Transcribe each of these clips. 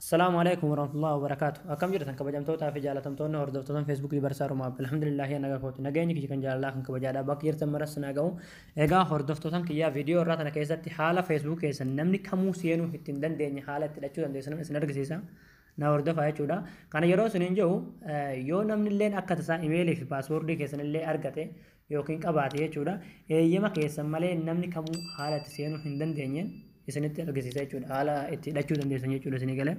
Salaamu alaikum warahmatullahi wabarakatuh. Akkam jirtan kabajamtootaa fi jaalatamtoonni hordoftoota Facebook Libarsaa Rumaa Abdul Alhamdulillah yaa nagaa kooti. Nageenyi kiyya kan jaalalaa kan kabajaadhaa bakka jirtan maras na ga'u. Egaa hordoftootan kiyyaa viidiyoo irraa tana keessatti haala Facebook keessan namni kamuu seenuu itti hin dandeenye haala itti hidhachuu dandeessan isin argisiisa. Na hordofaa jechuudha. Kana yeroo isin hin jiru yoo namni illee akka tasaa imeelii fi paaswoordii keessan illee argate yookiin qabaate jechuudha. Eeyyama keessan malee namni kamuu haala itti seenuu hin dandeenye isinitti argisiisa jechuudha. Haala itti hidhachuu dandeessan jechuudha isinii galee.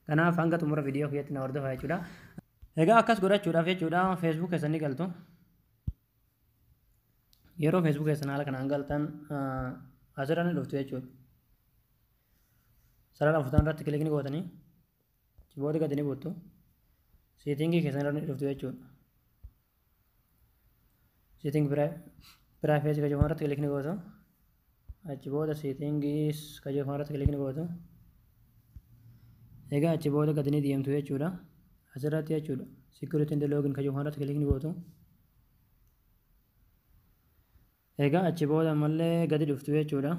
Kanaaf hanga xumura viidiyoo keessatti na hordofaa jechuudha. Egaa akkas godhachuudhaaf jechuudha Facebook keessan ni galtu. Yeroo Facebook keessan haala kanaan galtan asirra ni dhuftu jechuudha. Sarara afurtan irratti kilik ni gootanii kiboodii gadi ni buuttu. Seetingii keessan irra ni dhuftu jechuudha. Seeting privacy ka jedhamu irratti kilikni gootu. Achi booda seetingis ka jedhamu irratti kilikni gootu. Egaa achi booda gadi ni deemtu jechuudha. Asirratti jechuudha. Security and login ka jedhamu irratti kilikni gootu. Egaa achi booda ammallee gadi dhuftu jechuudha.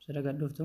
Sira gad dhuftu.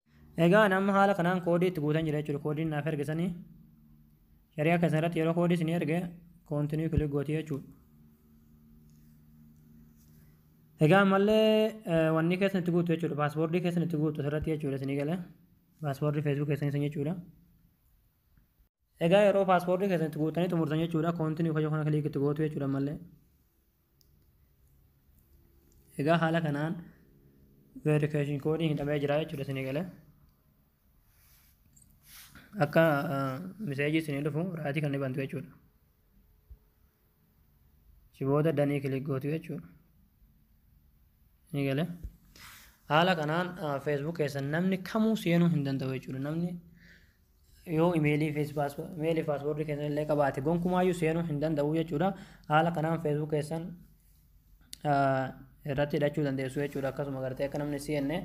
Egaa ani amma haala kanaan koodii itti guutan jira jechuudha. Koodiin naaf erge sanii shari'a keessan irratti yeroo koodii isin erge koontinii kilik gootii jechuudha. Egaa ammallee wanni keessan itti guutu jechuudha. Paaspoortii keessan itti guutu asirratti jechuudha isinii galee. Paaspoortii feesbuuk keessan isin jechuudha. Egaa yeroo paaspoortii keessan itti guuttanii xumurtan jechuudha koontinii kayyoo kana kiliik itti gootu jechuudha ammallee. Egaa haala kanaan veerikeeshin koodiin hidhamee jira jechuudha isinii galee. Akka miseejii isinii dhufu raatii kan ni bantu jechuudha. Achi booda danii kilik gootu jechuudha. Ni galee. Haala kanaan Facebook keessan namni kamuu seenuu hin danda'u jechuudha. Namni yoo imeelii fi imeelii paaspoortii keessan illee qabaate gonkumaayyuu seenuu hin danda'u jechuudha. Haala kanaan Facebook keessan irratti hidhachuu dandeessu jechuudha. Akkasuma gartee akka namni seenne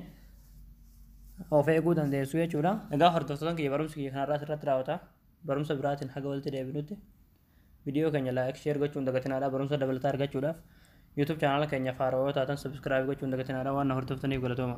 of eeguu dandeessu jechuudha. Egaa hordoftoota kiyya barumsi kiyya kanarraa asirratti raawwata. Barumsa biraatiin haga walitti deebinutti. Video keenya like share gochuun dagatinaadha barumsa dabalataa argachuudhaaf YouTube channel keenya faarawoo taatan subscribe gochuun dagatinaadha waan na hordoftaniif galatooma.